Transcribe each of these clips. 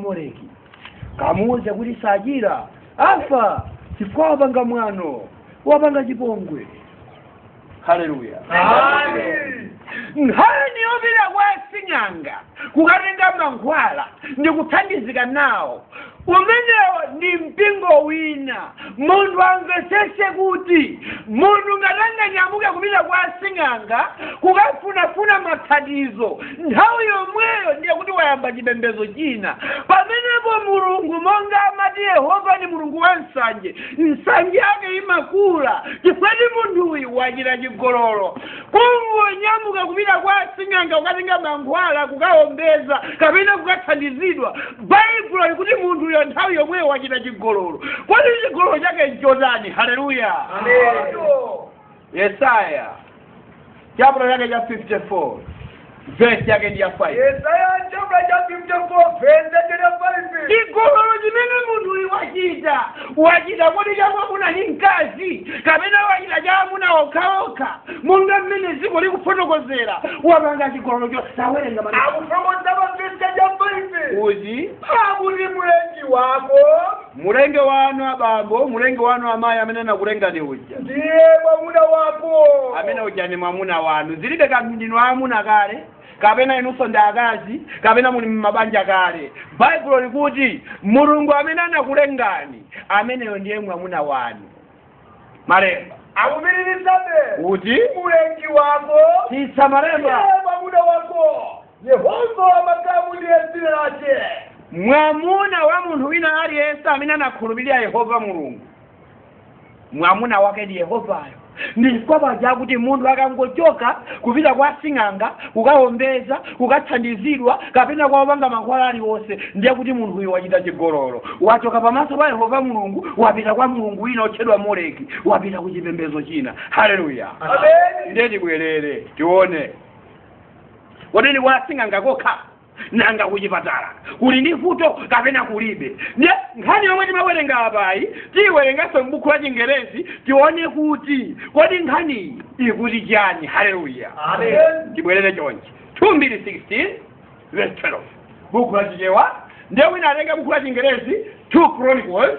moleki kamuuze kuti sachira afa chifukwa wapanga mwano wapanga chipongwe haleluya nkhani yopita kwa sing'anga kukatenga mankhwala ndi kuthandizika nawo umenewo ndi mpingo wina munthu amvetsetse kuti munthu ngati anganyamuke kupita kwa asing'anga kukafunafuna mathandizo nthawi yomweyo ndiye kuti wayamba chipembedzo china pamenepo mulungu monga amati yehova ni mulungu wa nsanje nsanje yake imakula chifukwa choti munthuyu wachita chigololo kungonyamuka kupita kwa asing'anga kukatenga mankhwala kukaombeza kapena kukathandizidwa baibulo likuti munthuyo nthawi yomweyo wachita chigololo kodi chigololo chake nchotani haleluya yesaya chaputala chake cha 54 vesi yake ndi ya 5 yesaya chaputala cha 54 vesi yake ndi ya 5 chigololo chimene munthuyu wachita wachita kodi cha mwamuna ndi mkazi kapena wachita cha amuna okhaokha monga mmene dziko likufotokozera wapanga chigololo chosawerenga mani akufotokoza pa vesi yake ya 5 uzi akuti mlengi wako mulengi wanu abambo mulengi wanu amayi amene anakulengani uyu ndiye mwamuna wako amene uja ndi mwamuna wanu zilibe kanthu ndinu amuna kale kapena inunso ndi akazi kapena muli mmabanja kale baibulo likuti mulungu amene anakulengani ameneyo ndiye mwamuna wanu malemba akupitirizabe kuti mulengi wako titsa malemba ndiye mwamuna wako yehova wa makamu ndiye dzina lake mwamuna wa munthu wina aliyense amene anakhulupirira yehova mulungu mwamuna wake ndi yehovayo nchifukwa paja kuti munthu akangochoka kupita kwa sing'anga kukaombeza kukathandizidwa kapena kwa opanga mankhwala aliwonse ndiye kuti munthuyu wachita chigololo wachoka pamaso pa yehova mulungu wapita kwa mulungu wina otchedwa moleki wapita ku chipembezo china haleluya ndiye tibwerere tione kodi ndi kwa sing'anga kokha nanga kuchipatala kuli ndi vuto kapena kulibe ndiye nkhani yomwe timawerenga apayi tiyiwerenganso m'buku la chingerezi tione kuti kodi nkhaniyi ikuti chani haleluya tibwerere chonchi 2 mbiri 16 verse 12 buku la chichewa ndiye wina atenge buku la chingerezi 2 chronicles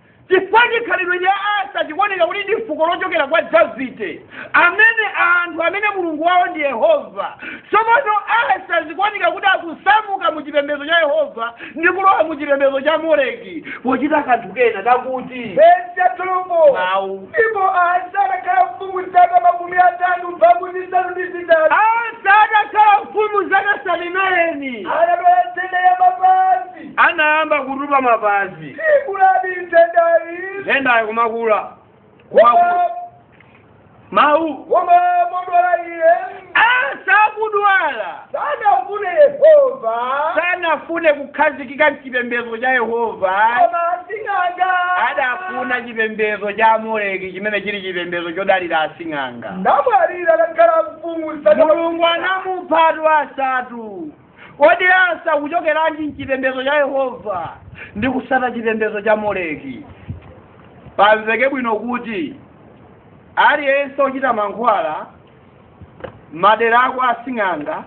chifukwa chikhalidwe cha asa chikuoneka kuti ndi fuko lochokera kwa davide amene anthu amene mulungu wawo ndi yehova tsopano asa zikuoneka kuti akusamuka mu chipembedzo cha yehova ndi kulowa mu chipembedzo cha moleki pochita kanthu kena kakuti Verse ya 12. mawu Ndipo Asa anakhala mfumu zaka makumi atatu mphambu zisanu ndi zitatu. asa atakhala mfumu zaka 39 Anadwala nthenda ya mapazi. anayamba kutupa mapazi si kuti nthendayi nthenda ikumakula kumakula mawu koma podwala iye Asa akudwala sanafune yehova sanafune kukhazikika mchipembedzo cha yehova koma sing'anga adafuna chipembedzo cha moleki chimene chili chipembedzo chodalira asing'anga namwalira atakhala mfumu mulungu anamupha asa kodi asa akuchokeranji mchipembedzo cha yehova ndi kusata chipembedzo cha moleki pamveke bwino kuti aliyense ochita mankhwala madera ako asing'anga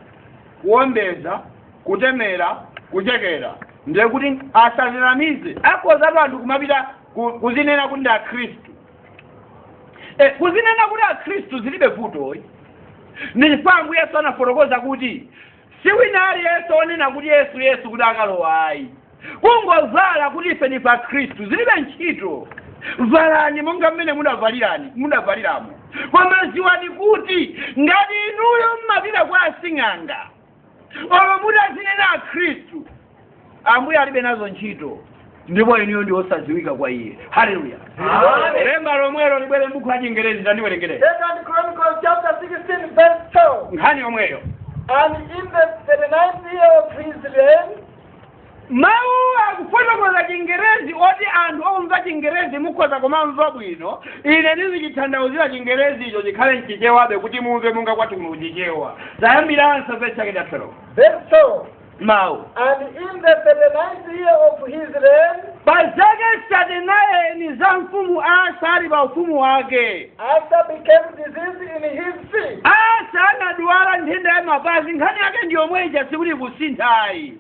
kuombeza kutemera kuchekera ndiye kuti asazinamize akhoza tu anthu kumapita ku- kuzinena kuti ndi akhristu e, kuzinena kuti akhristu zilibe vuto ayi ndi chifukwa ambuye yesu anafotokoza kuti si wina aliyense onena kuti yesu yesu kuti akalowa ayi kungovala kuti ife ndife akhristu zilibe ntchito valani monga mmene mudavalirani mudavaliramo koma ziwani kuti ngati inuyo mmapita kwa asing'anga olo mutazinena akhristu ambuye alibe nazo ntchito ndipo inuyo ndi osadziwika kwa iye haleluya Amen. lemba lomwelo libwere m'buku la chingerezi tandiwerengere Second Chronicles chapter 16, verse 12. nkhani yomweyo And in the 39th year of his reign, mawu akufotokoza chingerezi oti anthu omva chingerezi mukhoza kumamva bwino ine ndizichithandauzira chingerezi icho chikhale mchichewabe kuti mumve monga kwathu kuno kuchichewa tayambiranso verse chake cha 12 Verse 12. mawu And in the thirty ninth year of his reign, pa zake za sate nayini za mfumu asa ali pa ufumu wake Asa became diseased in his feet. asa anadwala nthenda ya mapazi nkhani yake ndiyomweja sikuti kusintha ayi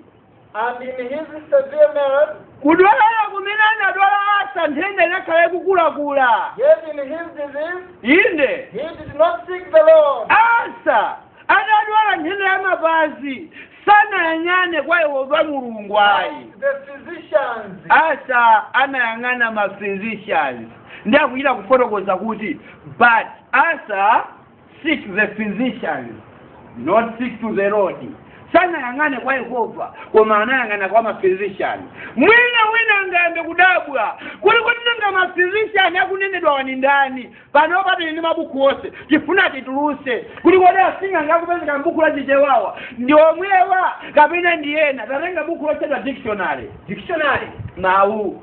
And his malady was severe, kudwala kumene anadwala asa nthenda inakhala yakukulakula yet in his disease, inde he did not seek the Lord. asa anadwala nthenda ya mapazi sanayang'ane kwa yehova mulungu ayi but the physicians, asa anayang'ana ma physicians ndi akuchita kufotokoza kuti but asa seek the physician not seek to the lord sanayang'ane kwa yehova koma anayang'ana kwa maphysician mwina wina angayambe kudabwa kuti kuti nanga maphysician akunenedwawa ndani pano tili ndi mabuku onse tifuna tituluse kuti kodi asing'anga akupezeka mbuku la chichewawa ndi omwewa kapena ndi ena tatenga buku lotchedwa dictionary dictionary mawu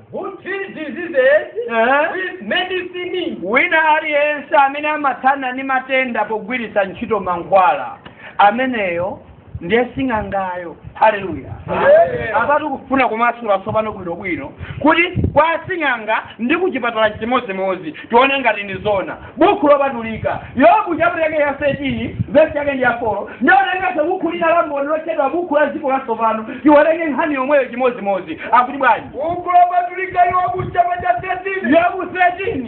who treats diseases Eh? with medicine. wina aliyense amene amathana ndi matenda pogwiritsa ntchito mankhwala ameneyo ndiye sing'angayo haleluya Amen. apatu ndikufuna kumasula tsopano bwinobwino kuti kwa sing'anga ndi kuchipatala nchimodzimodzi tione ngati ndi zona bukhu lopatulika. Yobu chaputala chake cha 13 vesi yake ndi ya 4 nditenganso bukhu lina la mboni lotchedwa bukhu la dziko latsopano tiwerenge nkhani yomweyo chimodzimodzi akuti bwanji Buku lopatulika Yobu chaputala cha 13 yobu 13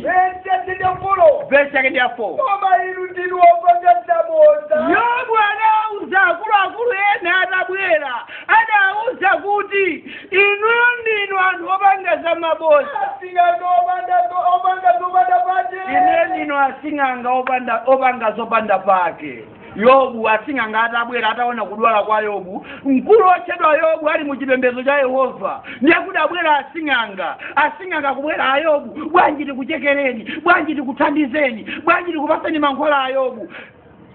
vesi ya 4 vesi yake ndi ya 4 koma inu ndinu wopanga zabodza yobu anauza akuluakulu ena atabwera adauza kuti inuyo ndinu anthu opanga za maboza asing'anga opanda zo- opanga zopanda pake ine ndinu asing'anga opanda opanga zopanda pake yobu asing'anga atabwera ataona kudwala kwa yobu mkulu otchedwa yobu ali mu chipembedzo cha yehova ndiye kuti abwera asing'anga asing'anga akubwera a yobu bwanji tikuchekereni bwanji tikuthandizeni bwanji tikupaseni mankhwala a yobu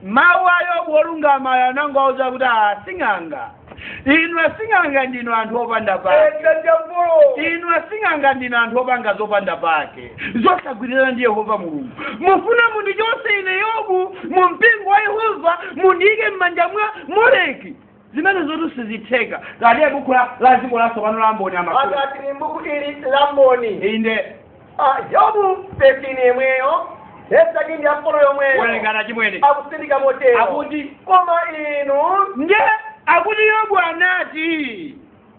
mawu a yobu wolungamayo anangowauza kuti a sing'anga inu asing'anga ndinu anthu opanda pake Ega jambo. inu asing'anga ndinu anthu opanga zopanda pake zosagwirizana ndi yehova mulungu mufuna mundichotse ine yobu mu mpingo wa yehova mundiyike m'manja mwa moleki zimenezotu sizitheka ngati buku la la dziko latsopano la mboni amakuwa akati ni mbuku ili la mboni inde Ah, yobu 13 yemweyo vesi yake ndi ya 4 yomweyo kuwerekana mmene akutsindika motero akuti koma inu ndiye akuti yobu anati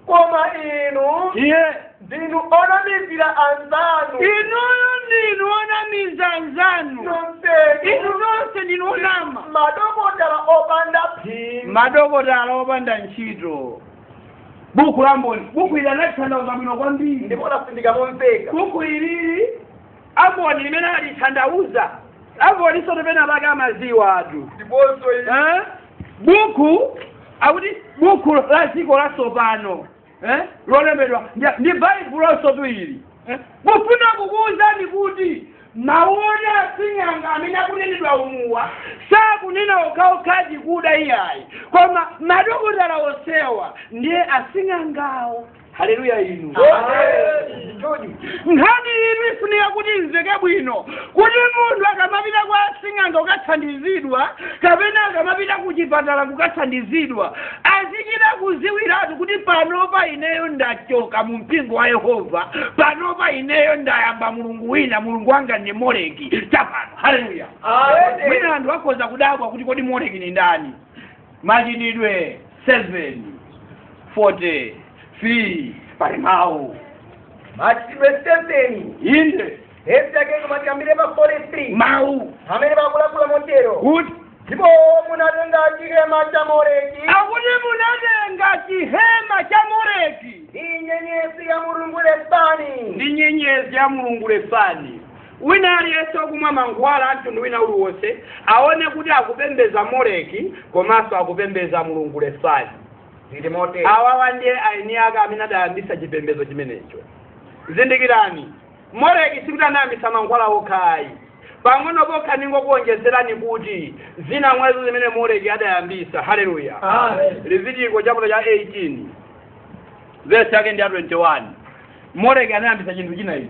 koma inu iye ndinu onamizira anzanu inuyo ndinu onamiza anzanu inu nonsenu nonse ndinu onama madokotala opanda phindu madokotala opanda ntchito buku la mboni buku ili analithandauza bwino kwambiri ndipo latsindika momveka buku ili la mboni limene alithandauza amboni sote pena pake amaziwatu ndiponso inu eh? buku akuti buku la dziko latsopano eh? lolembedwa ndi- ndi baibuloso ili eh? kufuna kukuwuzani kuti mawu oti asing'anga amene akunenedwa umuwa sakunena okhaokhadi kuda iyayi koma madokotala onsewa ndiye asing'angawo haleluya inu nkhani iyi ifunika kuti imveke bwino kuti munthu akamapita kwa sing'anga kukathandizidwa kapena akamapita ku chipatala kukathandizidwa azichita kuziwiratu kuti panopa ineyo ndachoka mu mpingo wa yehova panopa ineyo ndayamba mulungu wina mulungu wanga ndi moleki chapano haleluya mwina anthu akhoza kudabwa kuti kodi moleki ni ndani machitidwe 7 43 pali mawu machitidwe 7 inde vesi yake koma tiyambire pa 43 mawu amene akulankhula motero kuti ndipo munatenga chihema cha moleki akuti munatenga chihema cha moleki ndi nyenyezi ya mulungu refani ndi nyenyezi ya mulungu refani Wina aliyense wakumwa mankhwala a mtundu wina uliwonse aone kuti akupembeza Moleki komanso akupembeza mulungu Refani. Zili motere. Awawa ndiye aeni ake amene adayambitsa chipembedzo chimenecho. Zindikirani, Moleki sikuti anayambitsa mankhwala okha ayi. Pang'ono pokha ndingokuonjezerani kuti zina mwazo zimene Moleki adayambitsa. Haleluya. Amen. Levitiko chaputala cha 18 vesi yake ndi ya 21. Moleki anayambitsa chinthu china ichi.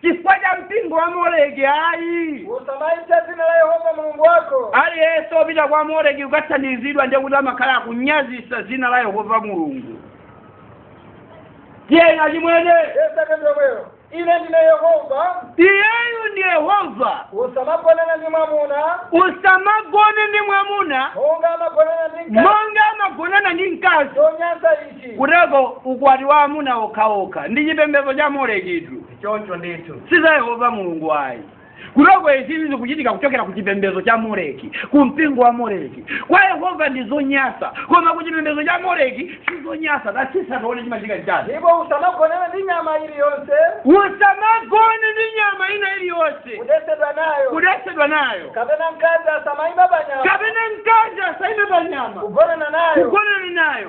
chifukwa cha mpingo wa moleki ayi usamaipsa dzina la yehova mulungu wako aliyense opita kwa moleki kukathandizidwa ndiye kuti amakhala akunyazisa dzina la yehova mulungu tiyeni achimwene yesu akati omweyo ine ndine yehova iyeyu ndi yehova usamagonana ndi mwamuna usamagone ndi mwamuna monga amagonana ndi mkazi monga amagonana ndi mkazi zonyansa izi kuteko ukwati wa amuna okhaokha ndi chipembedzo cha molekitu choncho ndithu si za yehova mulungu ayi kuteko izi zikuchitika kuchokera ku chipembedzo cha moleki ku mpingo wa moleki kwa yehova ndi zonyasa koma ku chipembedzo cha moleki si zonyasa tatsitsa tione chimachitika chitatu ndipo usamagonane ndi nyama iliyonse usamagone ndi nyama ina iliyonse kudetsedwa nayo kudetsedwa nayo kapena mkazi asamaima pa nyama kapena mkazi asaime pa nyama kugonana nayo kugonana nayo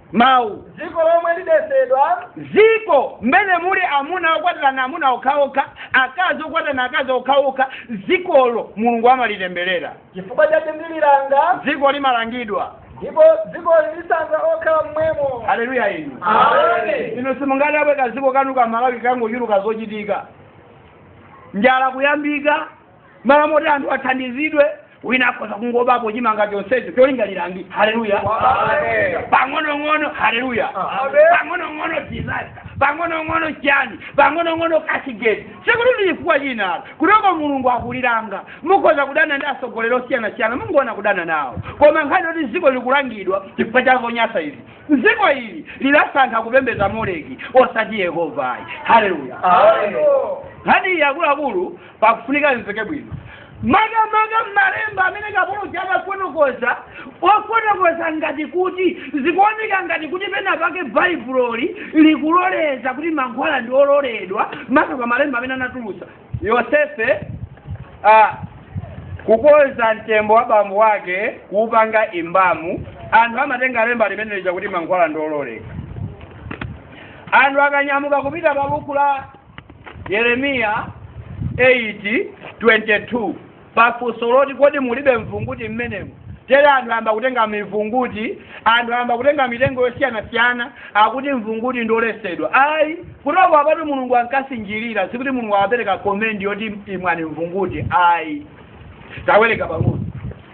mawu dziko lomwe lidetsedwa dziko mmene muli amuna okwatirana amuna okhaokha akazi okwatirana akazi okhaokha dzikolo mulungu amalitemberera chifukwa chake ndililanga dziko limalangidwa ndipo dziko lilisanza okhala mmwemo haleluya inu Amen. inu simungadabwe kadziko kanu ka malawi kangochuluka zochitika njala kuyambika mmalo moti anthu athandizidwe wina akhoza kungobapo chimanga chonsecho cholinga lilangidwe haleluya Amen. pang'onong'ono haleluya Amen. pang'onong'ono disaster pang'onong'ono chani pang'onong'ono cashgate sikuti ndi chifukwa chinalo kutoko mulungu akulilanga mukhoza kudana ndi atsogoleri osiyanasiyana mungoona kudana nawo koma nkhani yoti dziko likulangidwa chifukwa cha zonyasa izi dziko ili lidasankha kupembedza moleki osati yehova ayi haleluya Amen. nkhani iyi akuluakulu pakufunika amveke bwino makamaka malemba amene kapolo uja amafotokoza ofotokoza ngati kuti zikuoneka ngati kuti pena pake baibuloli likuloleza kuti mankhwala ndi ololedwa makamaka malemba amene anatulusa yosefe ah, kukonza mtembo wa bambo wake kuupanga embalm anthu amatenga lemba limene lija kuti mankhwala ndi ololeka anthu akanyamuka kupita pa buku la yeremiya 8:22 pafunso loti kodi mulibe mvunguti mmenemo tere anthu ayamba kutenga mivunguti anthu ayamba kutenga mitengo yosiyanasiyana akuti mvunguti ndoletsedwa ayi kuteroko apatu mulungu ankasinjirira sikuti mulungu ankapereka komendi yoti imwani mvunguti ayi tawerenga pang'ono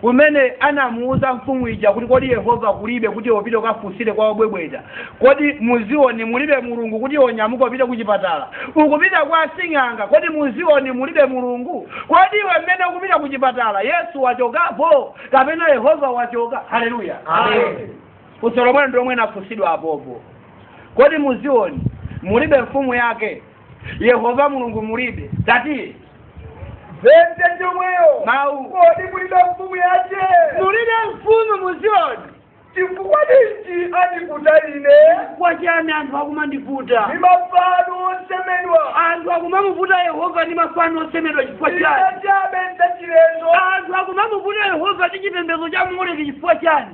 kumene anamuwuza mfumu ija kuti kodi yehova kulibe kuti upite ukafunsire kwa obwebweta kodi muzioni mulibe mulungu kuti onyamuka upite kuchipatala ukupita kwa asing'anga kodi muzioni mulibe mulungu kodi iwe mmene ukupita kuchipatala yesu wachokapo kapena yehova wachoka haleluya Amen. funso lomwelo ndi lomwe linafunsidwa apopo kodi muzioni mulibe mfumu yake yehova mulungu mulibe tati vente chomweyo Mau. kodi mulibe mfumu yace mulibe mfumu muziyoni chifukwa ninji andiputa ine kwa chani anthu akumandiputa ndi mafano osemedwa anthu akumamuputa yehova ndi mafano osemedwa chifukwa chani zachabe zachilendo anthu akumamuputa yehova ndi chipembedzo cha moleki chifukwa chani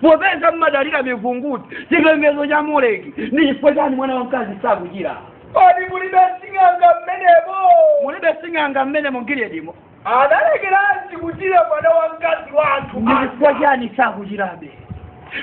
popeza mmadalira mivunguti chipembedzo cha moleki ndi chifukwa chani mwana wamkazi sakuchira kodi mulibe sing'anga mmenemo mulibe sing'anga mmene mu giliyadimo adalekeranji kuchira mwana wamkazi wathu ndi chifukwa chani sakuchirabe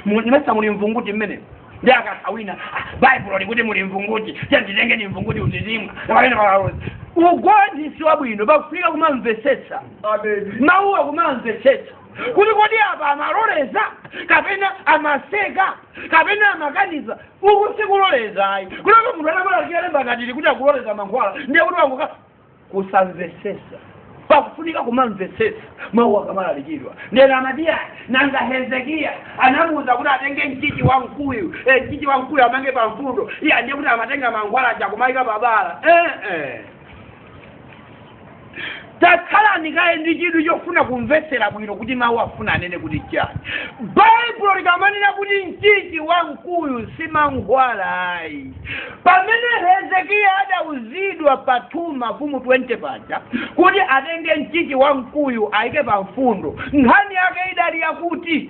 Mu- mesa muli mvunguti mmenemo ndi akasawina "Ah, baibulo likuti muli mvunguti tiyeni titengeni mvunguti tizimwa kapena pakalozi ugonthi si wabwino pakufunika kumamvesetsa ameni mawuwa kumamvesetsa kuti kodi apa amaloleza kapena amaseka kapena amakaniza uku sikuloleza ayi kunaka munthu anamalalikira lemba ngati ili kuti akuloleza mankhwala ndiye kuti wangokhala kusamvesesa pakufunika kumamvesesa mawu akamalalikidwa ndiye ena amati ayi nanga hezekiya anamuwuza kuti atenge mchichi wa mkuyu eh, mchichi wa mkuyu amange pa mfundo ija ndiye kuti amatenga mankhwala aja kumayika pabala eh, eh. takhalani kaye ndi chidwi chofuna kumvetsera bwino kuti mawu afuna anene kuti chani baibulo likamanena kuti mchichi wa mkuyu si mankhwala ayi pamene hezekiya adauzidwa pa 2 mafumu 20 paja kuti atenge mchichi wa mkuyu ayike pa mfundo nkhani yake idali yakuti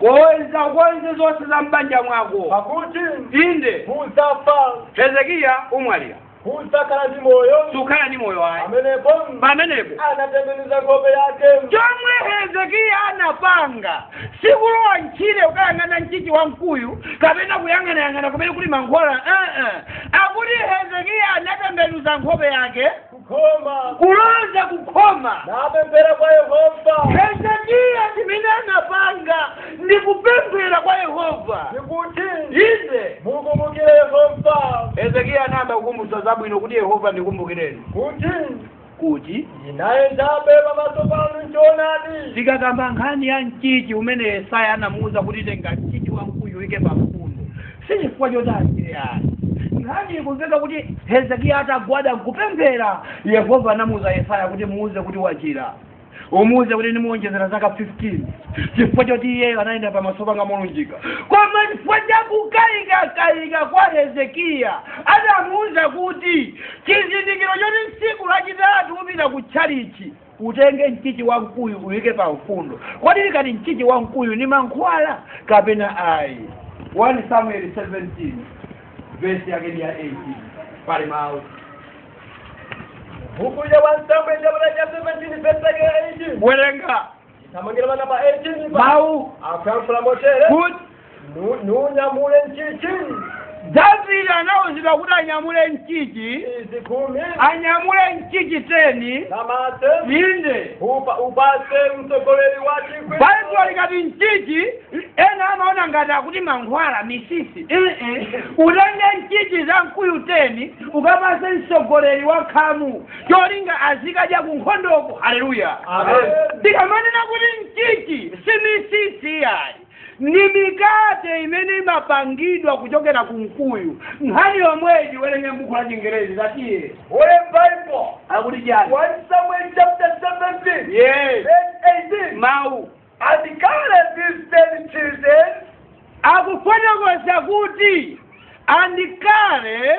konza konze zonse za m'banja mwako pakuti inde udzafa hezekiya umwalira sudzakhala ndi moyo sukhala ndi moyo ayi pamenepo pamenepo anatembenuza nkhope yake chomwe hezekiya anapanga sikulowa m'tchire kukayang'ana mchichi wa mkuyu kapena kuyang'anayang'ana kumene kuli mankhwala uh -uh. akuti hezekiya anatembenuza nkhope yake khoma kulonda kukhoma napemphera kwa yehova hezekiya chimene anapanga ndi kupemphera kwa yehova ndikuti inde mukumbukire yehova hezekiya anayamba kukumbutsa zabwino kuti yehova ndikumbukireni kuti kuti ndinayendabe pamaso panu m'choonadi tikakamba nkhani ya mchichi umene yesaya anamuwuza kuti tenga mchichi wamkuyu uike pamfundo si chifukwa choti achire ayi nkhani ikumveka kuti hezekiya atagwada nkupemphera yehova anamuuza yesaya kuti muuze kuti wachira umuuze kuti ndimuonjezera zaka 15 chifukwa choti iyeyo anayenda pamaso panga molunjika koma chifukwa chakukayikakayika kwa hezekiya adamuuza kuti chizindikiro choti tsiku lachitatu upita ku tchalichi utenge mchichi wa mkuyu uyike pa mfundo kodi likati mchichi wa mkuyu ni mankhwala kapena ayi 1 samuel 17 vesi yake ni ya 18 pali mawu buku ya 1 samuel chaputala cha 17 vesi yake ya 18 werenga tamangira bana pa 18 pali mawu akuyankhula motere kuti Nu- nunyamule nchichi davide anauzidwa kuti anyamule nchichi izi khumi anyamule nchichi teni za mase inde upa upase mtsogoleri wa chikwi baibulo likati nchichi ena amaona ngati akuti mankhwala misisi Ee. utenge nchichi za mkuyu teni ukapase mtsogoleri wa khamu cholinga azikadya ku nkhondoko haleluya Amen. tikamanena kuti nchichi si misisi yayi ndi mikate imene imapangidwa kuchokera ku mkuyu nkhani yomweyi tiwerenge m'buku la chingerezi tatiye Holy Bible, akuti chani 1 Samuel chapter 17, yes verse 18. mawu And carry these ten cheeses akufotokoza kuti andikale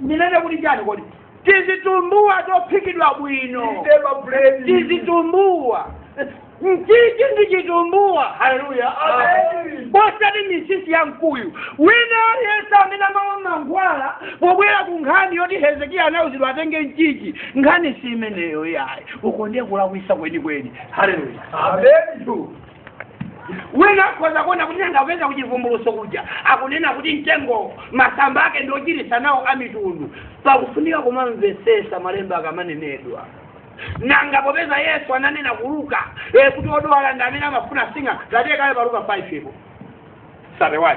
ndinene kuti chani kodi tizitumbuwa tophikidwa bwino Ndeba bread. tizitumbuwa mchichi ndi chitumbuwa haleluya Amen. osati misisi ya mkuyu wina aliyense amene amamwa mankhwala pobwera ku nkhani yoti hezekiya anauzidwa atenge mchichi nkhani si imeneyo yayi uko ndiye kulakwisa kwenikweni haleluya Amen. wina akhoza kuona kuti nanga popeza kuchivumbuluso kuja akunena kuti mtengo masamba ake ndi ochiritsa nawo amitundu pakufunika kumamvesesa malemba akamanenedwa nanga popeza yesu ananena kuluka e kuti odwala ndi amene amafuna sing'anga tatiyekale paluka 5 ipo 31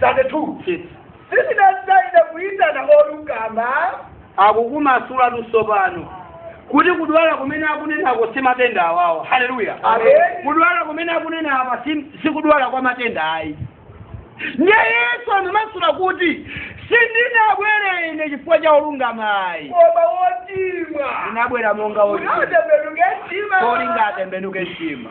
32 Chitsi. sindinadza ine kuyitana olungama akukumasulatu sopano kuti kudwala kumene akunenako si matenda awawa haleluya Amen. kudwala kumene akunena apa si- si kudwala kwa matenda ayi ndiye yesu anamasula kuti sindinabwere ine chifukwa cha olungama ayi koma wochimwa ndinabwera monga olungama unatembenuka mtima polinga atembenuke mtima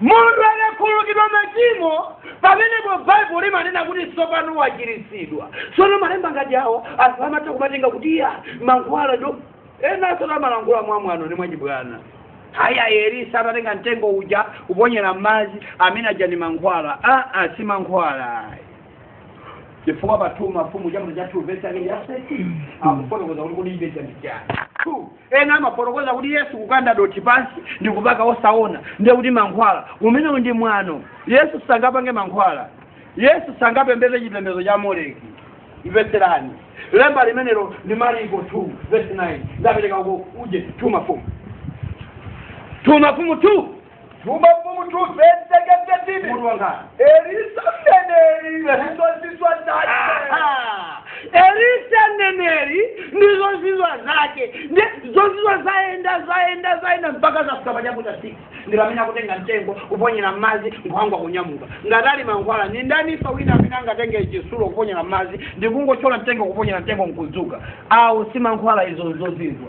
munthu akakhululukidwa machimo pamenepo baibulo limanena kuti tsopano wachiritsidwa tsono malemba ngati awo anthu amatha kumatenga kuti ya mankhwala nde enansotu amalankhula mwamwano ndi mwachibwana haya elisa atatenga mtengo uja kuponyera m'madzi amene aja ndi mankhwala aa si mankhwala chifukwa pa 2 mafumu chaputala cha 2 vesi yake ya 13 akufotokoza kuti kodi ibe chandichani ena amafotokoza kuti yesu kukanda dothi pansi ndi kupaka osaona ndiye kuti mankhwala umenewu ndi mwano yesu sangapange mankhwala yesu sangapembeze chipembezo cha moleki mvetserani lemba limenelo ndi mariko 2 verse 9 ndapereka uko uje 2 mafumu 2 mafumu 2 2 mafumu 2 vesi yake 13 Mutu wake. elisa mneneri ndi zozizwa zake Aha. elisa mneneri ndi zozizwa zake ndi zozizwa zayenda zayenda zayenda mpaka zafika pachaputa six ndipamene akutenga mtengo kuponyera mmadzi nkhwangwa kunyamuka ngati ali mankhwala ndi ndaninso wina amene angatenge chisulo kuponyera mmadzi ndikungotchola mtengo kuponyera mtengo nkudzuka awo si mankhwala izo nzozizwa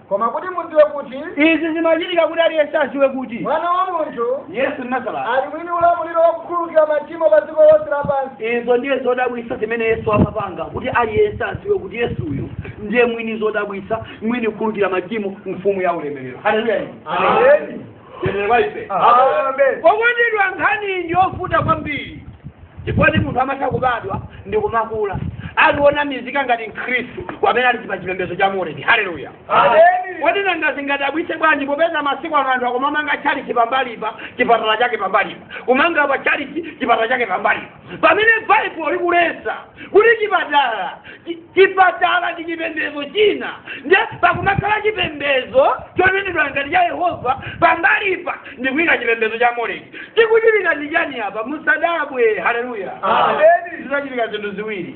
koma kuti mudziwe kuti izi zimachitika kuti aliyense adziwe kuti mwana wa munthu yesu nazareti ali mwini ulamuliro wakukhululukira machimo pa dziko lonse lapansi izo ndiye zodabwitsa zimene yesu amapanga kuti aliyense adziwe kuti yesuyu ndiye mwini zodabwitsa mwini kukhululukira machimo mfumu ya ulemerero haleluya Amen. Haleluya Amen. Okondedwa nkhani ndi yovuta kwambiri ndipodi munthu amatha kubadwa ndi kumakula ali onamizika ngati mkhristu pamene ali pa chipembedzo cha moleki haleluya Amen. kodi nanga zingadabwitse bwanji popeza masiku ano anthu akumamanga tchalichi pambalipa chipatala chake pambalipa kumanga pa tchalichi chipatala chake pambalipa pamene baibulo likulesa kuti chipatala chi- chipatala ndi chipembedzo china nde pakumakhala chipembedzo chonenedwa ngati cha yehova pambalipa ndi kuyika chipembedzo cha moleki chikuchitika ndi chani apa musadabwe haleluya Amen. zinachitika zinthu ziwiri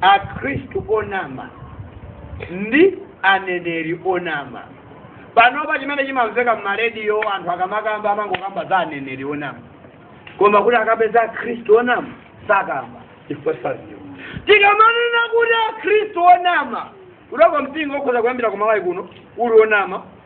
akhristu onama ndi aneneri onama panopa chimene chimamveka mmarediyo anthu akamakamba amangokamba za aneneri onama koma kuti akapeza akhristu onama sakamba chifukwa sadziwa tikamanena kuti akhristu onama kuti uko mpingo ukhoza kuyambira kumalawi kuno uli onama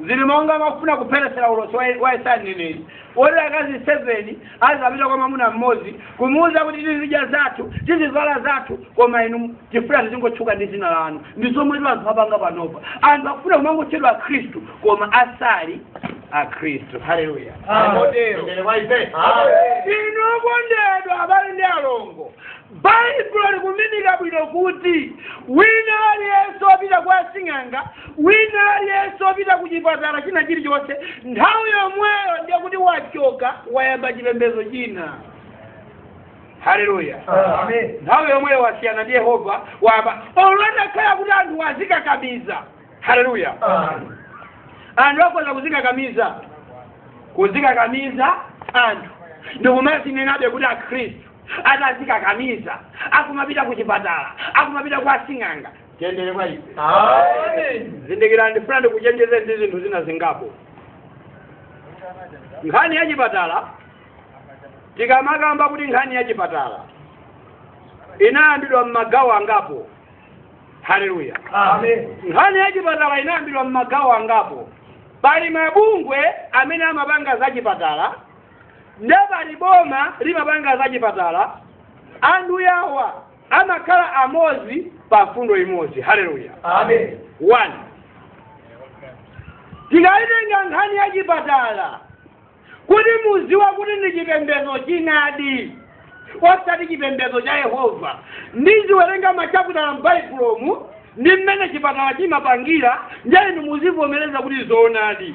zili monga mwakufuna kupheretsera ulosi wa- wa yesaya mneneri woti akazi 7 azapita kwa mwamuna mmodzi kumuwuza kuti tizidya zathu tizivala zathu koma inu tifuna tizingotchuka ndi dzina lanu ndi zomwetu anthu apanga panopa anthu akufuna kumangotchedwa akhristu koma asali akhristu haleluya Amen. motero Mneneri wa ife. Amen. inu okondedwa abale ndi alongo Baibulo likuminika bwino kuti wina aliyense wopita kwa asing'anga wina aliyense wopita ku chipatala china chilichonse nthawi yomweyo ndiye kuti wachoka wayamba chipembedzo china haleluya Amen. nthawi yomweyo wasiyana ndi yehova wayamba olo atakhala kuti anthu azikakamiza haleluya Amen. anthu akhoza kuzikakamiza kuzikakamiza anthu ndikumazinenabe kuti akhristu atazikakamiza akumapita ku chipatala akumapita kwa sing'anga tiyendere kwa ife zindikirani ndikufuna ndikuchenjeze ndi zinthu zina zingapo nkhani ya chipatala tikamakamba kuti nkhani ya chipatala inayambidwa m'magawo angapo haleluya nkhani ya chipatala inayambidwa m'magawo angapo pali mabungwe amene amapanga za chipatala nde pali boma limapanga za chipatala anthu yawa amakhala amodzi pa mfundo imodzi haleluya Amen. one tikayitenga nkhani ya chipatala kuti mudziwe kuti ndi chipembedzo chinadi osati chipembedzo cha yehova ndiziwerenga machaputala m'baibulomu ndi mmene chipatala chimapangira ndiye inu muzivomereza kuti zoonadi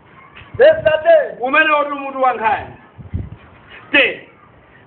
umene uli mutu wa nkhani te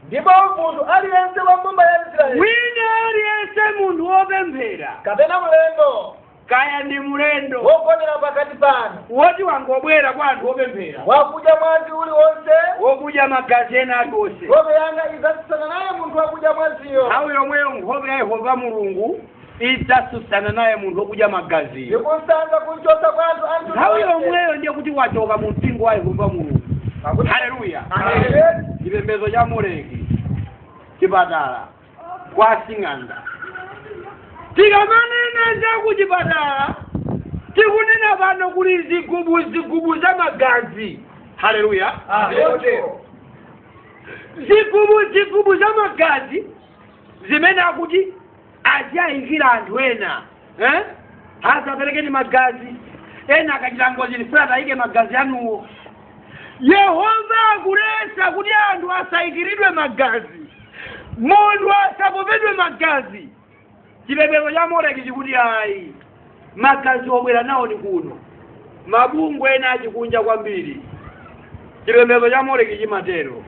ndipo munthu aliyense wa mbumba ya israeli wina aliyense munthu wopemphera kapena mlendo kaya ndi mlendo wogonera pakati panu woti wangobwera kwa anthu opemphera wakudya mwazi uliwonse wokudya magazi ena aliwonse nkhope yanga idzatsutsana naye munthu wakudya mwaziyo nthawi yomweyo nkhope ya yehova mulungu idzatsutsana naye munthu wokudya magaziyo ndikumsadza kumchotsa kwa anthu a mtundu wake. nthawi yomweyo ndiye kuti wachoka mu mpingo wa yehova mulungu Pakuti- haleluya Amen. chipembedzo cha moleki chipatala kwa asing'anga tikamanena za kuchipatala tikunena pano kuli zigubu zigubu za magazi haleluya Choncho, zigubu zigubu za magazi zimene akuti aziyayikira anthu ena eh? asaperekeni magazi ena akachita ngozi ndifuna atayike magazi anuwo Yehova akulesa kuti anthu asayikiridwe magazi munthu asapopedwe magazi chipembedzo cha moleki chikuti ayi magazi obwera nawo ni kuno mabungwe ena achikunja kwambiri chipembedzo cha moleki chimatero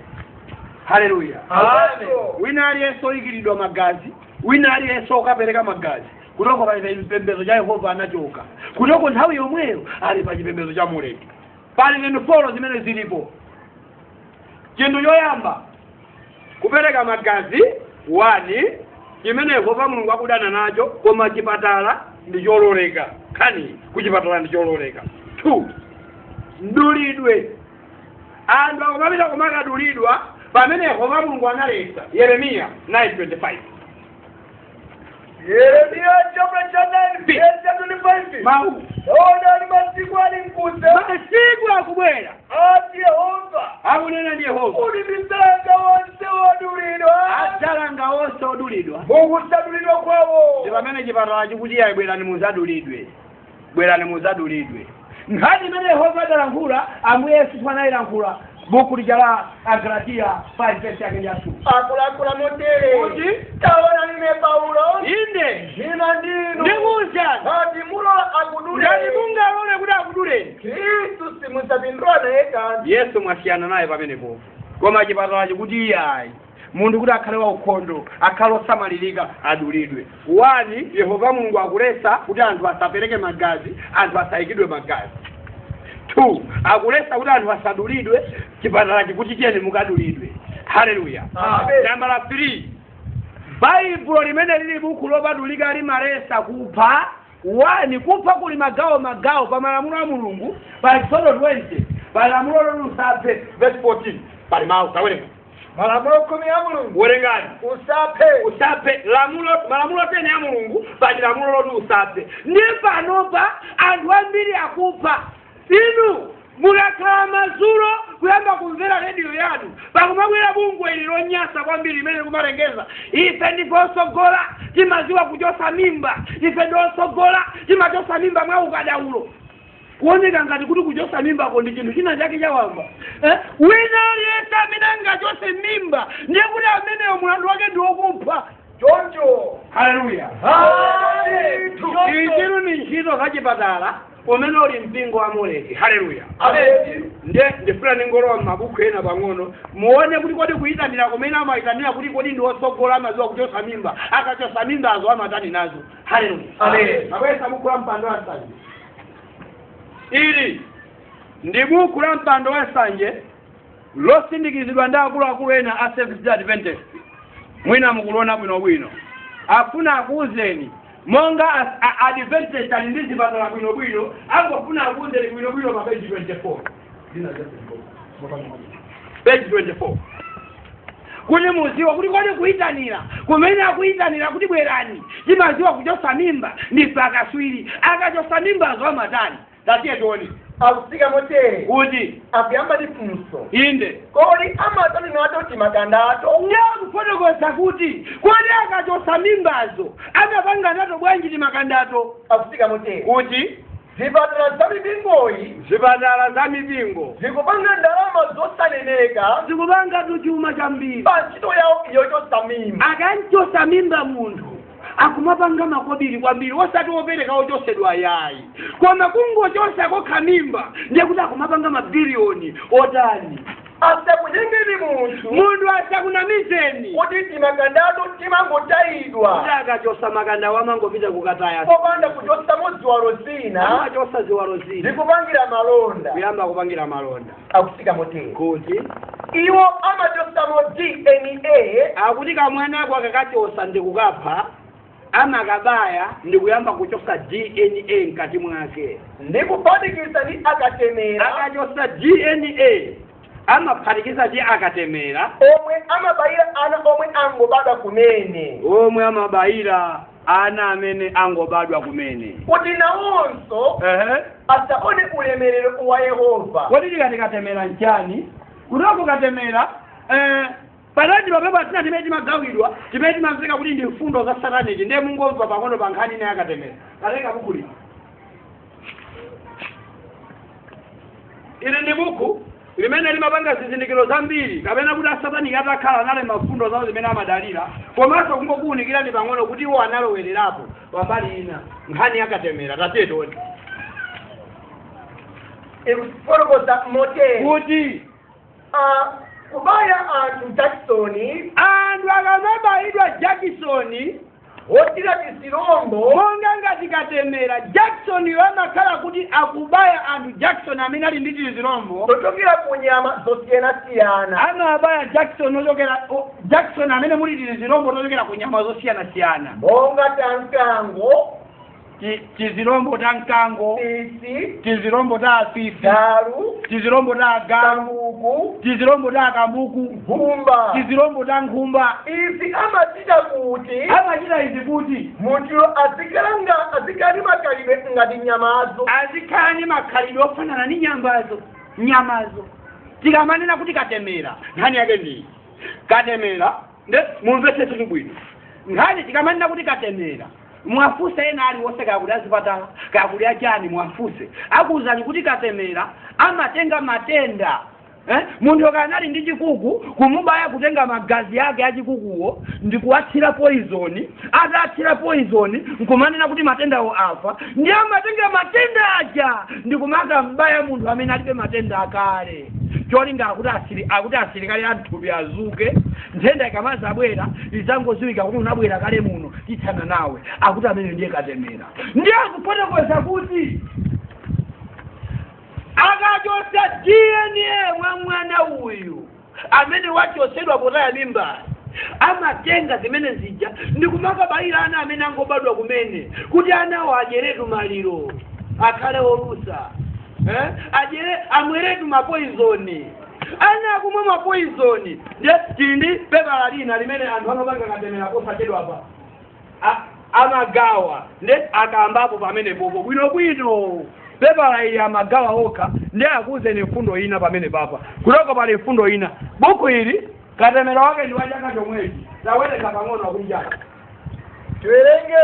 haleluya Amen. wina aliyense oyikiridwa magazi wina aliyense okapereka magazi kuchoka pa chipembedzo cha yehova anachoka kuchoka nthawi yomweyo ali pa chipembedzo cha moleki pali zinthu folo zimene zilipo chinthu choyamba kupereka magazi wani chimene yehova mulungu akudana nacho koma chipatala ndi chololeka kani kuchipatala ndi chololeka two mdulidwe anthu akumapita kumakadulidwa pamene yehova mulungu analetsa yeremiya 925 yeremiya chaputala cha 9 Bi. vesi ya 25 mawu taona ali masiku ali mkuza masiku akubwera ati yehova akunena ndi yehova m'mene ndidzalanga wonse wodulidwa adzalanga onse odulidwa m'kusadulidwa kwawo ndi pamene chipatala chikuti ayi bwerani muzadulidwe bwerani muzadulidwe nkhani imene yehova adalankhula ambuye yesu tsopano anayilankhula buku lija la agalatiya 5 verse yake nja two akulankhula motere Kuti? taonani ine paulo inde ndinena ndi inu ndikuwuzani ngati mulola akudule ngati mungalole kuti akuduleni khristu simudzapindula naye kanthu yesu mwasiyana naye pamenepo koma chipatala chikuti iyayi munthu kuti akhale waukhondo akhale osamalirika adulidwe wani yehova mulungu akulesa kuti anthu asapereke magazi anthu asayikidwe magazi two akulesa kuti anthu asadulidwe chipatala chikuti chiyeni mukadulidwe haleluya Amen. nambala three baibulo limene lili buku lopatulika limalesa kupha wani kupha kuli magawo magawo pa malamulo a mulungu pa exodo 20 pa lamulo loti usaphe verse 14 pali mawu tawerengani malamulo khumi a mulungu werengani usaphe usaphe lamulo malamulo teni a mulungu pali lamulo loti usaphe ndi panopa anthu ambiri akupha inu mukakhala madzulo kuyamba kumvera rediyo yanu pakumabwera bungwe ili lonyasa kwambiri limene likumalengeza ife ndife osogola timaziwa kuchosa mimba ife ndi osogola timachosa mimba mwa ukadaulo kuoneka ngati kuti kuchotsa mimbako ndi chinthu china chake chawamba eh? wina aliyense amene angachotse mimba ndiye kuti ameneyo mulandu wake ndi wokupha choncho haleluya izitu ndi ntchito za chipatala umene uli mpingo wa moleki haleluya ameni nde ndifuna ndingolowa m'mabuku ena pang'ono muone kuti kodi kuyitanira kumene amayitanira kuti kodi ndi otsogola amaziwa kuchotsa mimba akachotsa mimbazo amatani nazo haleluya Amen. abweretsa buku la mpando wa nsanje ili ndi buku la mpando wa nsanje losindikizidwa ndi akuluakulu ena a Seventh Day Adventist mwina mukuliona bwinobwino akufuna akuuzeni monga as- a- adventist ali ndi zipatala bwinobwino angofuna akuuzeni bwinobwino pa page 24 page 24 kuti muziwa kuti kodi kuyitanira kumene akuyitanira kuti bwerani timaziwa kuchosa mimba ndi pakaswiri akachosa mimbazo amatani tatiye tione akutsika motere kuti akuyamba ndi funso inde kodi amatani nato timakandato ndiye akufotokoza kuti kodi akachosa mimbazo amapanga nato bwanji timakandato akutsika motere kuti Zipatala za mipingoyi. Zipatala za mipingo. Zikupanga ndalama zosaneneka. Zikupangatu chuma chambiri. Pa ntchito yawo yochotsa mimba. Akamchotsa mimba munthu akumapanga makobiri kwambiri osati opereka ochosedwa yayi koma kungochosa kokha mimba ndiye kuti akumapanga mabiliyoni otani asakunyengeni munthu munthu asakunamizeni kuti timakandatu timangotayidwa kuti akachosa makandawo amangopita kukataya popanda kuchosamo ziwalo zina amachosa ziwalo zina ndikupangira malonda kuyamba kupangira malonda akutsika motere kuti iwo amachosamo dna akuti kamwana ako akakachosa ndikukapha amakabaya ndi kuyamba kuchosa dna mkati mwake ndi kuphatikiza ndi akatemera akachosa dna amaphatikiza ndi akatemera omwe amabayira ana omwe angobadwa kumene omwe amabayira ana amene angobadwa kumene kuti nawonso ehe asaone ulemerero wa yehova kodi tikati katemera nchani kuti katemera eh, pali timapepala tina timene timagawidwa timene timamveka kuti ndi mfundo za sataniki ndiye mungomva pang'ono pa nkhani ina yakatemera ndatenga buku lino ili ndi buku limene limapanga zizindikiro zambiri kapena kuti asataniki atakhala ali ndi mfundo zawo zimene amadalira komanso kungokuwunikirani pang'ono kuti iwo analowererapo pambali ina nkhani yakatemera tatiye tione ikufotokoza motere kuti Ah, kubaya anthu jakisoni anthu akamabayidwa jakisoni wothira tizilombo monga ngati katemera jakisoniyo amakhala kuti akubaya anthu jakisoni amene ali ndi tizilombo tochokera ku nyama zosiyanasiyana amabaya jakisoni ochokera o- jakisoni amene muli tizilombo tochokera ku nyama zosiyanasiyana monga tankango ti- tizilombo ta mkango fisi tizilombo ta afisi galu tizilombo ta agalu kambuku tizilombo ta akambuku nkhumba tizilombo ta nkhumba izi amachita kuti amachita izi kuti munthu azikhala azikhala ndi makhalidwe ngati nyamazo azikhala ndi makhalidwe ofanana ndi nyamazo nyamazo tikamanena kuti katemera nkhani yake ndiyi katemera nde mumvetse zinthu bwino nkhani tikamanena kuti katemera muwafunse ena aliwonse kaya kuli azipatala kaya kuli achani muwafunse akuwuzani kuti katemera amatenga matenda eh? munthu kaya anali ndi chikuku kumubaya kutenga magazi ake achikukuwo ndi kuwathira poizoni akathira poizoni nkumanena kuti matendawo afa nde amatenga matenda aja ndi kumakam'baya munthu amene alibe matenda akale cholinga akuti asili akuti asilikali a mthupi adzuke nthenda ikamazabwera izangodziwika kuti unabwera kale muno tithana nawe akuti amene ndiye katemera ndiye akufotokoza kuti akachotsa dna mwa mwana uyu amene wachotsedwa potaya mimba amatenga zimene zija ndi kumakabayira ana amene angobadwa kumene kuti anawo adyeretu maliro akhale olusa eh? adyere amweretu mapoizoni ana akumwe mapoizoni nde tili ndi pepala lina limene anthu ano opanga katemera posachedwapa amagawa nde akamba pamenepopo bwinobwino pepala ili amagawa okha nde ndikuuzeni mfundo ina pamenepapa kutoko pali mfundo ina buku ili katemera wake ndi wachaka chomwechi tawerenga pang'ono wakulijana tiwerenge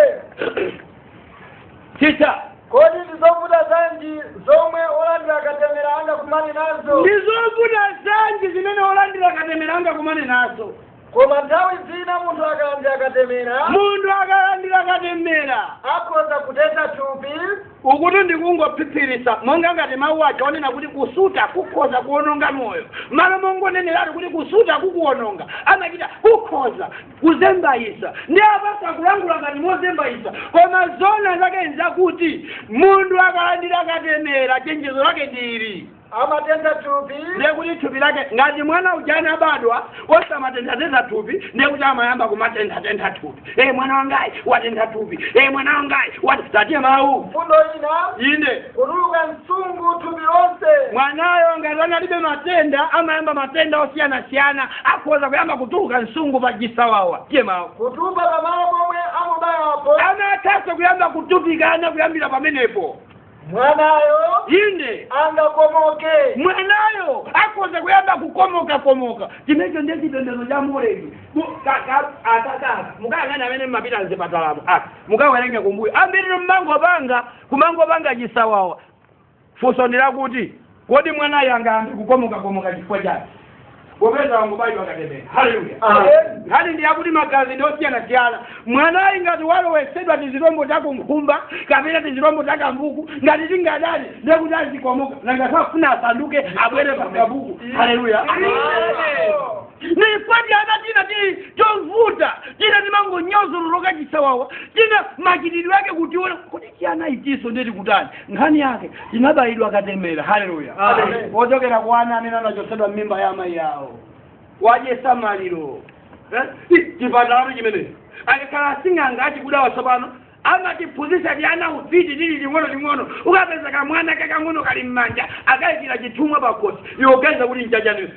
chita kodi ndi zovuta zanji zomwe olandira katemera angakumane nazo ndi zovuta zanji zimene olandira katemera angakumane nazo koma nthawi zina munthu akalandira katemera munthu akalandira katemera akhoza kutentha thupi ukutu ndikungophiphiritsa monga ngati mawu aja onena kuti kusuta kukhoza kuononga moyo malo mongoneneratu kuti kusuta kukuononga amachita kukhoza kuzembayisa ndiye apanso akulankhula ngati mozembayisa koma zona zake nzakuti munthu akalandira katemera chenjezo lake ndi ili amatentha thupi ndiye kuti thupi lake ngati mwana uja anabadwa osamatenthatentha thupi ndiye kuti amayamba kumatenthatentha thupi e mwana wangayu watentha thupi e mwana wangayu wati tatiye mawu mfundo ina inde kutuluka nsungu thupi lonse mwanayo ngati analibe matenda amayamba matenda osiyanasiyana akhoza kuyamba kutuluka nsungu pa chisawawa tiye mawu kutupa pamalo pomwe amubayapo ana atha kuyamba kutupikana kuyambira pamenepo mwanayo inde angakomoke mwanayo akhoza kuyamba kukomoka komoka chimenecho ndi chipembedzo cha moleki akakaka mukayang'ane amene mmapita m'zipatalamo aka mukawerenge kumbuyo ambiri mmangopanga kumangopanga chisawawa funso ndi lakuti kodi mwanayo angayambe kukomokakomoka chifukwa chake popeza wangobayidwa katemera haleluya nkhani ndi yakuti magazi ndi osiyanasiyana mwanayu ngati walowesedwa tizilombo ta kankhumba kapena tizilombo ta kambuku ngati tingadali ndiye kuti azikomoka nanga safuna asanduke abwere pa kambuku haleluya nipati ana tina ti tovuta tina timangonyozoloka chisawawa tina machitidwe ake kutiona kuti siyana itiso ndiye tikutani nkhani yake tinabayidwa katemera haleluya Amen. zochokera kwa ana amene anachotsedwa m'mimba ya amayi awo wayesa maliro Eh? Ti- chipatalacho chimene akakhala asing'anga achikudawa tsopano amatiphunzitsa tiana ufiti tili ting'onoting'ono ukapeza kamwana kakang'ono kali m'manja akaikira chithumwa pakhosi iwo uganiza kuti nchachani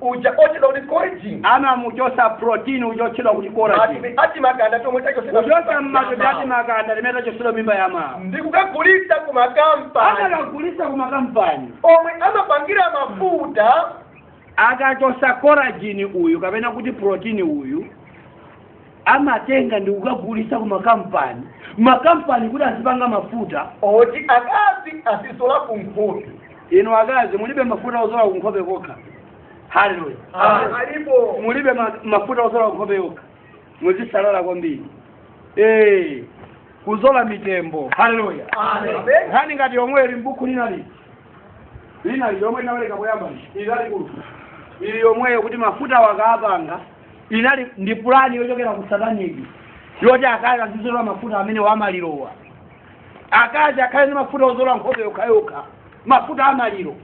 uja otchedwa kuti coragen amamuchosa protein uja otchedwa kuti coragen ati timakanda chomwe tachosedwa kuchosa mmatoti ati timakanda timene tachosedwa m'mimba ya amayi ndikukagulitsa ku makampani amakagulisa ku makampani omwe amapangira mafuta akachosa coragen uyu kapena kuti protein uyu amatenga ndi kukagulisa ku makampani makampani kuti azipanga mafuta oti akazi azizola ku nkhope inu akazi mulibe mafuta ozola ku nkhope kokha haleluya alipo mulibe ma- mafuta ozola ku nkhope kokha muzisalala kwambiri Eh, kuzola mitembo haleluya nkhani ngati yomweyo ili m'buku linali linali yomwe inawerenga poyamba ili lalikulu ili yomweyo kuti mafuta akapanga inali ndi pulani yochokera ku sataniki yoti akazi azizola mafuta amene amalirowa akazi akhale ndi mafuta ozola nkhope yokhayokha mafuta amaliro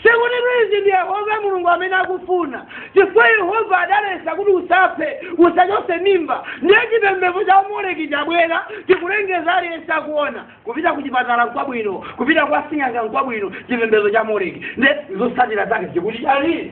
sikutitu ndi yehova mulungu amene akufuna chifukwa yehova adalesa kuti usaphe usachose mimba ndiye chipembedzo cha moleki chabwera chikulengeza aliyense akuona kupita ku chipatala nkwabwino kupita kwa sing'anga nkwabwino chipembedzo cha moleki ndi zotsatira zake chikuti chani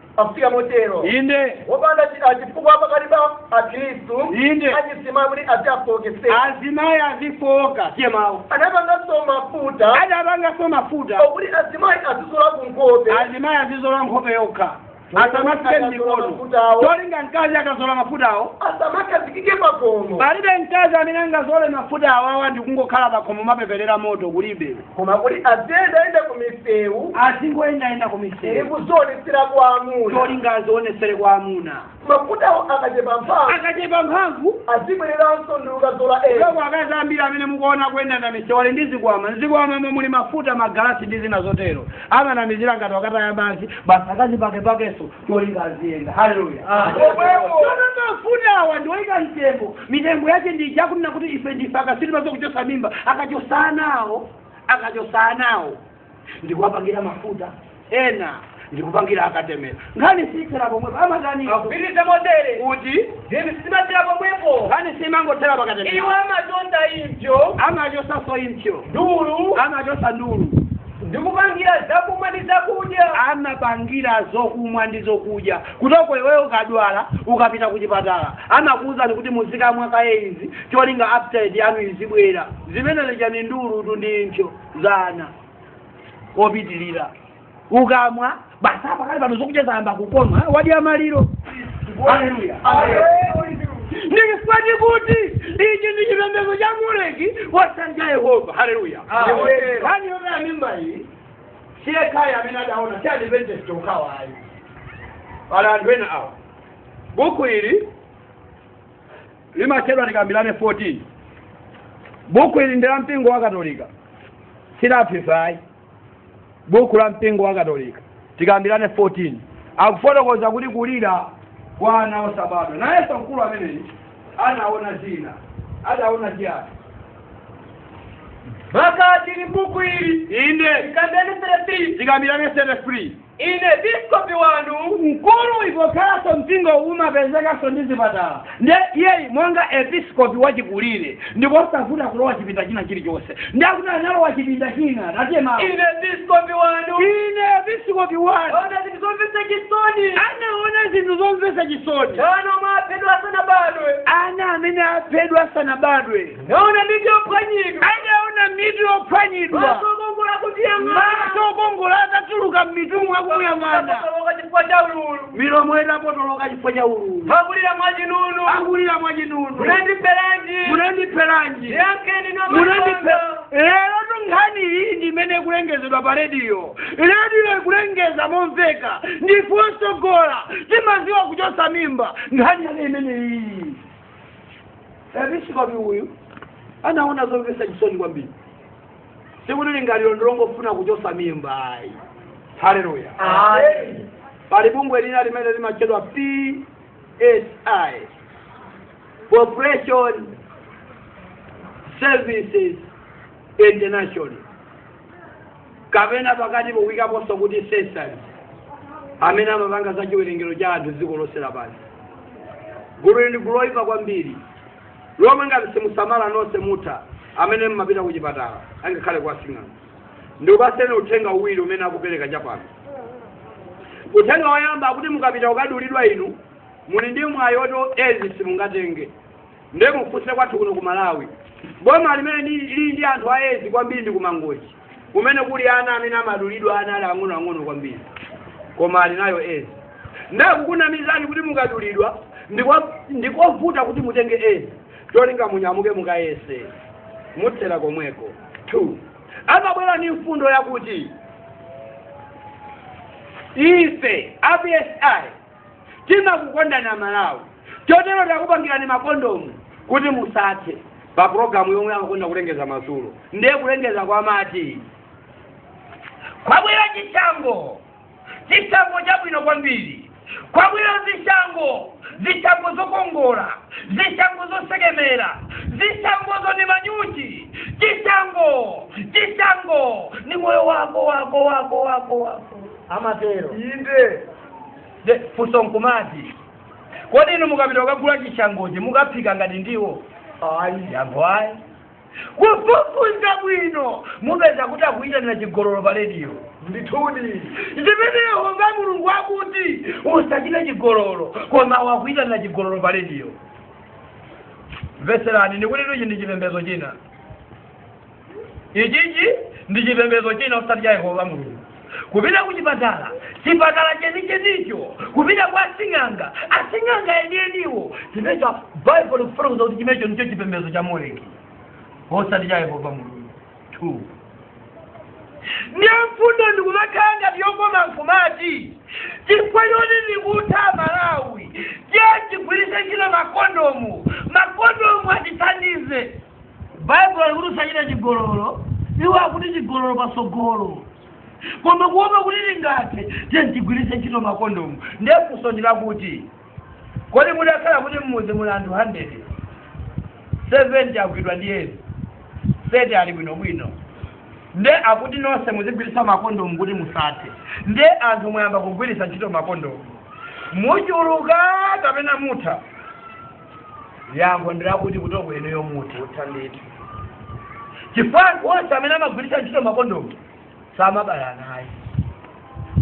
afika motero inde wopanda chi- ah, chifukwa pakati pa akhristu Inde. achisimaya kuti aziwafooketsa azimayi azifooka tiye mawu adapanganso mafuta adapanganso mafuta okuti azimayi azizola ku nkhope azimayi azizola nkhope yokha asamasike mikono cholinga mkazi akazola mafutawo asamakhazikike pakhomo palibe mkazi amene angazole mafutawo awa ndikungokhala pakhomo mapeperere moto kulibe koma kuti aziyendayenda ku misewu azingoyendayenda kumisewu kuzionetsera kwa amuna cholinga azionetsere kwa amuna mafutawo akachepa mphamvu akachepa mphamvu azibwereranso ndi kukazola ena loko akazi ambiri amene mukuona kuyenda m'misewu ali ndi zikwama mzikwamamo muli mafuta magalasi ndi zina zotero amanamizira ngati akukataya madzi basi akazipakepakenso cholinga aziyenda haleluya omwewoonanga mafuta awa ndiwoyika mtembo mitengo yace ndija kunena kuti ife ndife akatswiri pa zokuchosa mimba akachosanawo akachosanawo ndikuwapangira mafuta ena ndikupangira katemera nkhani siyithera pomwepo amatani Akupitiriza motere. kuti Zinthu sizimathera pomwepo. nkhani siyimangothera pakatemera Iwo amatonda impso, amachosaso impso ndulu, amachosa ndulu ndikupangira zakumwa ndi zakudya amapangira zokumwa ndi zokudya kuti iweyo ukadwala ukapita ku chipatala amakuwuzani kuti muzikamwa kaye izi cholinga appetite yanu izibwera zimenene chani ndi ndulu ndi impsyo za ana opitiratu ukamwa basi apa pano zokudya zayamba kukoma eh, wadya maliro haleluya ndichifukwa chake tikuti kuti ichi ndi chipembedzo cha moleki wadanja yehova haleluya nkhani yomwe amimba iyi siyekha amene adaona si adventist okha ayi pali anthu ena awa buku ili limatchedwa tikambirane 14 buku ili ndi la mpingo wa katolika silaphifayi buku la mpingo wa katolika tikambirane 14 akufotokoza kuti kulira kwa ana osabadwa nayenso mkulu ameneyi anaona zina adaona chiyani makaka tili buku ili inde tikambirane 33 tikambirane 33 Ine episkopi wanu mkulu pokhalanso mpingo umapezekanso ndi zipatala nde iyeyi monga episkopi wachikulire ndikosavuta kulowa chipinda china chilichonse nde akuti analowa chipinda china tiye mawu ine episkopi wanu ine episkopi wanu ndaona zinthu zomvetsa chisoni anaona zinthu zomvetsa chisoni ana omwe aphedwa asanabadwe ana amene aphedwa asanabadwe ndaona mitu yophwanyidwa adaona mitu yophwanyidwa maso okongola akutiyang'ana maso okongola atatuluka m'mitumwa akutiyang'ana Potoloka chifukwa cha ululu milomo idapotoloka chifukwa cha ululu akulira mwa chinunu akulira mwa chinunu munandipheranji munandipheranji ndiyankheni munandipheranji nkhani iyi ndi imene ikulengezedwa pa rediyo rediyo ikulengeza momveka ndife otsogola timadziwa kuchotsa mimba nkhani yake imene iyi episikopi uyu anaona zomvetsa chisoni kwambiri sikuti lingaliro ndi longofuna kuchotsa mimba ayi haleluya pali bungwe lina limene limatchedwa psi population services international kapena pakati kuikaponso kuti sesali amene amapanga za chiwerengero cha anthu dziko lonse lapansi gululi ndi gulu loyipa kwambiri lomwe ngati simusamala nonse mutha amene mmapita ku chipatala angakhale kwa sing'anga ndikupatseni uthenga uwiri umene akupereka chapano uthenga woyamba akuti mukapita kukadulidwa inu muli ndi mwayi woti ezi simungatenge ndiye mufunse kwathu kuno ku malawi boma limene ndi- lili ndi anthu a ezi kwambiri ndi ku Mangochi kumene kuli ana amene amadulidwa ana ali ang'onoang'ono kwambiri koma ali nayo ezi ndiye kukunamizani kuti mukadulidwa ndikwa- ndikovuta kuti mutenge ezi cholinga munyamuke mukayese muthera komweko two amabwera ndi mfundo yakuti ife a psi timakukondani amalawi chotero takupangirani makondomu kuti musathe pa programu yomwe amakonda kulengeza madzulo ndiye kulengeza kwake amati kwabwera chishango chishango chabwino kwambiri kwabwera zishango zishango zokongola zishango zosekemera zishango zonga manyuchi chishango chishango ni moyo wako wako wako wako wako amatero inde Ndiye funso nkumati kodi inu mukapita kukagula chishangochi mukaphika ngati ndiwo ayi yankho ayi kufufuza bwino mupeza kuti akuyitanira chigololo pa rediyo ndithudi zimene yehova mulungu akuti usachite chigololo koma iwo akuyitanira chigololo pa rediyo mvetserani ndikuti ichi ndi chipembedzo china ichichi ndi chipembedzo china osati cha yehova mulungu kupita ku chipatala chipatala chenichenicho kupita kwa asing'anga asing'anga enieniwo chimecho baibulo ikufotokoza kuti chimecho ndicho chipembedzo cha moleki osati cha yehova mulungu two ndiye mfundo nkumakhala ngati yokoma nkumati chifukwa choti tikutha amalawi tiyeni tigwiritse ntchito makondomu makondomu atithandize baibulo likuti usachite chigololo iwo akuti chigololo patsogolo koma kuopa kuti tingathe tiyeni tigwiritse ntchito makondomu ndiye funso ndi lakuti kodi mudakhala kuti mmuzi muli anthu 100 70 agwidwa ndi edzi 30 ali bwinobwino nde akuti nonse muzigwiritsa makondomu kuti musathe nde anthu muyamba kugwiritsa ntchito makondomu muchuluka kapena mutha yankho ndilakuti kuteroko inuyo mukutha ndithu chifukwa anthu onse amene amagwiritsa ntchito makondomu samabala nayi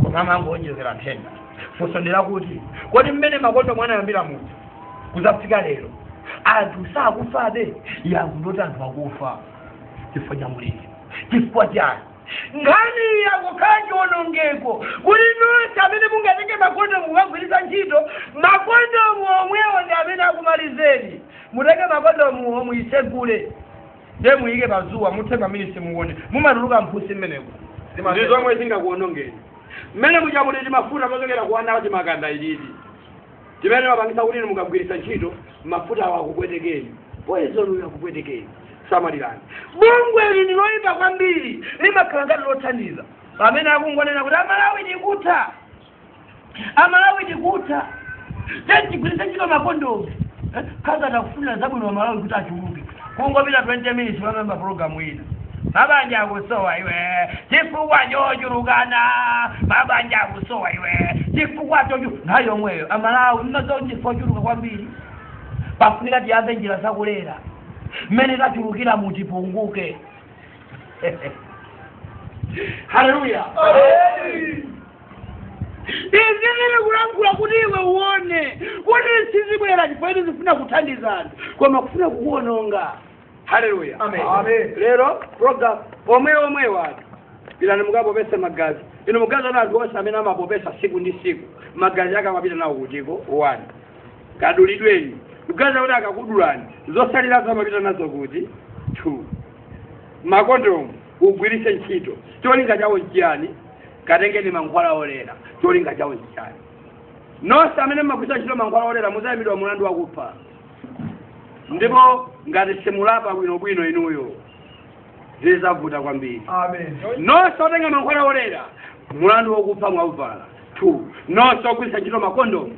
koma amangoonjezera nthenda funso ndilakuti kodi mmene makondomu anayambira mpaka kuzafika lero anthu sakufabe yankho ndoti anthu akufa chifukwa cha mliri uno chifukwa chani nkhani iyi yakukhala chiwonongeko kuti nonse amene mungatenge makondomu kukagwiritsa ntchito makondomu omwewo ndi amene akumalizeni mutenge makondomuwo muitsegule nde muike pazuwa muthe maminitsi muone mumatuluka mphutsi mmenemo ndi zomwe zingakuonongeni mmene muja muli timafuta tochokera ku ana timakanda ilidi chimene chimapangitsa kuti inu mukagwiritsa ntchito mafutawo akupwetekeni poison uyo akupwetekeni samalirani bungwe limeneli ndiloyipa kwambiri limakhala ngati lothandiza pamene akungonena kuti amalawi tikutha amalawi tikutha tiyeni tigwiritse ntchito makondomu ngati akufunira zabwino amalawi kuti achuluke kungopita 20 minutes pamabwera pulogalamu ina mabanja akusowa ufa chifukwa chochulukana mabanja akusowa iwe chifukwa chochu nthawi yomweyo amalawi mmazo chifukwa mwachuluka kwambiri pafunika tiyambe njira zakulera mmene tachulukira kuti tipunguke haleluya izi zili kulankhula kuti iwe uone kuti sizibwera chifukwa choti zifuna kuthandiza anthu koma kufuna kukuononga haleluya lero program omweomwewa one pitani mukapopesa magazi inu mmaganiza kuti anthu onse amene amapopesa siku ndi siku magazi ake amapita nawo kutiko one kadulidweni mmaganiza kuti akakudulani zosalirazo amapita nazo kuti two makondomu ugwiritse ntchito cholinga chawo nchiyani katengeni mankhwala olera cholinga chawo nchichani nonse amene mmagwiritsa ntchito mankhwala olera muzayimbidwa mlandu wakupha ndipo ngati simulapa bwinobwino inuyo zizavuta kwambiri nonse otenga mankhwala olera mlandu wakupha mwauvala two nonse ogwiritsa ntchito makondomu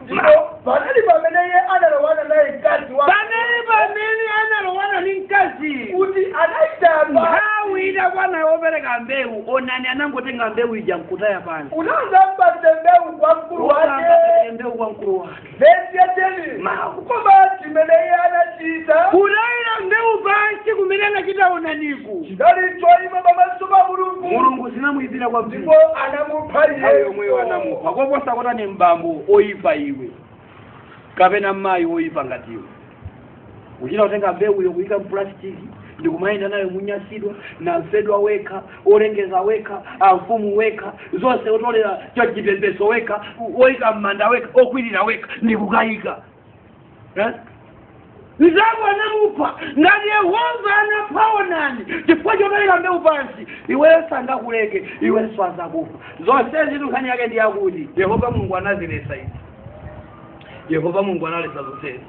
ndipo panali pamene iye analowana naye mkazi wa panali pamene analowana ndi mkazi kuti anayitamba nthawi idakwana yopereka mbewu onani anangotenga mbewu ija nkutaya pansi unazamba mbewu kwa mkulu wake Unazamba mbewu kwa mkulu wake vesi ya teni Mawu. koma chimene iye anachita kutayira mbewu pansi kumene anachita onani mulungu chidali choipa pamaso pa mulungu mulungu zinamuyipira kwambiri ndipo anamupha nthawi yomweyo anamupha iye koposa kotani mbambo oyipa iwe kapena mayi oyipa ngati iwe kuchita kutenga mbewuyo kuyika mpulastiki ndikumayenda nayo munyasidwa namfedwa wekha olengeza wekha amfumu wekha zonse otolera chachipepeso wekha oyika m'manda wekha okwirira wekha ndikukayika Eh? mzako anamupha ngati yehova anapha onani chifukwa chopereka mbewu pansi iweyo sangakuleke iwenso azakupha zonsezitu nkhani yake ndi yakuti yehova mulungu anazilesa izi yehova mulungu analesa zonsezi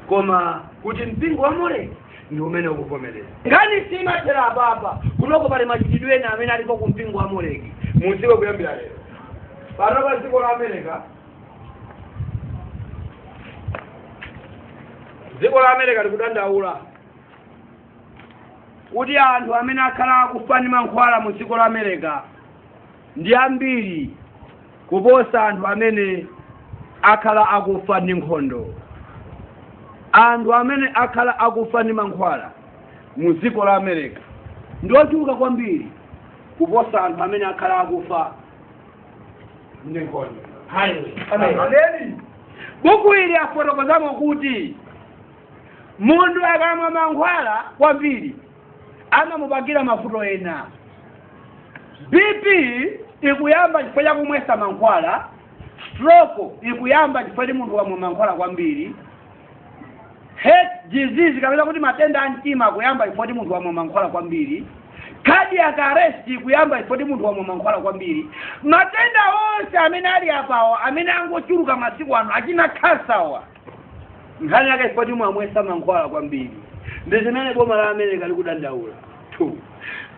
koma kuti mpingo wa moleki ndi umene ukuvomereza nkhani simathera apapa kunoko pali machitidwe ena amene alipo ku mpingo wa moleki muziwe kuyambira lero pano pa dziko la america dziko la america likudandaula kuti anthu amene akhala akufa ndi mankhwala mu dziko la america ndi ambiri kuposa anthu amene akhala akufa ndi nkhondo anthu amene akhala akufa ndi mankhwala mu dziko la america ndi ochuluka kwambiri kuposa anthu amene akhala akufa ndi nkhondo Hallelujah. Amen. Ameni. buku ili afotokozamo kuti munthu akamwa mankhwala kwambiri amamupangira mavuto ena bp ikuyamba chifukwa cha kumwesa mankhwala stroke ikuyamba chifukwa kuti munthu wamwa mankhwala kwambiri heart disease kapena kuti matenda a mtima kuyamba ifoti munthu wamwa mankhwala kwambiri cardiac arrest kuyamba ifoti munthu wamwa mankhwala kwambiri matenda onse amene ali apawa amene angochuluka masiku ano achina khansawa nkhani yake ifoti mwamwesa mankhwala kwambiri ndi zimene boma la america likudandaula two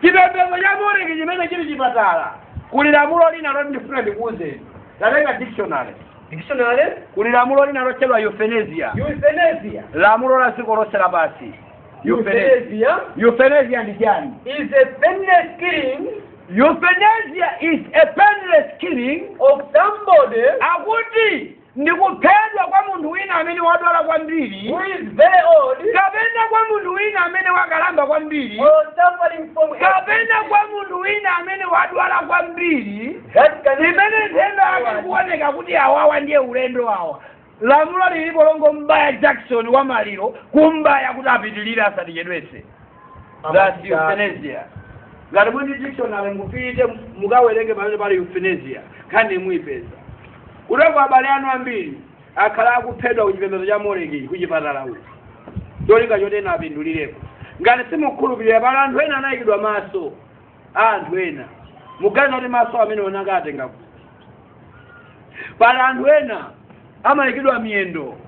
chipembedzo cha moreki chimene chili chipatala kuli lamulo lina loti ndifuna ndikuuzeni tatenga dictionary dictionary kuli lamulo lina lotchedwa euthanasia euthanasia lamulo la dziko lonse lapansi euthanasia euthanasia euthanasia ndi chani is a painless killing euthanasia is a painless killing of somebody akuti ndi kuphedwa kwa munthu wina amene wadwala kwambiri who is very old kapena kwa munthu wina amene wakalamba kwambiri or suffering from a kapena kwa munthu wina amene wadwala kwambiri That can imene nthenda akuoneka kuti awawa ndiye ulendo awa lamulo lilipo longom'baya jakisoni wa maliro kum'baya kuti apitilire asatichedwese that's euthanasia ngati muli ndi dictionary mupite mukawerenge pamene pali euthanasia nkhani muipeza kuteko abale anu ambiri akhala akuphedwa ku chipembedzo cha moleki ku chipatala uku cholinga choti ena apindulireko ngati simukhulupirira pali anthu ena anayikidwa maso a anthu ena muganiza kuti maso amenewo anakawatenga kuti pali anthu ena amayikidwa miyendo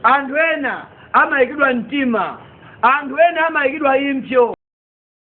anthu ena amayikidwa mtima anthu ena amayikidwa impso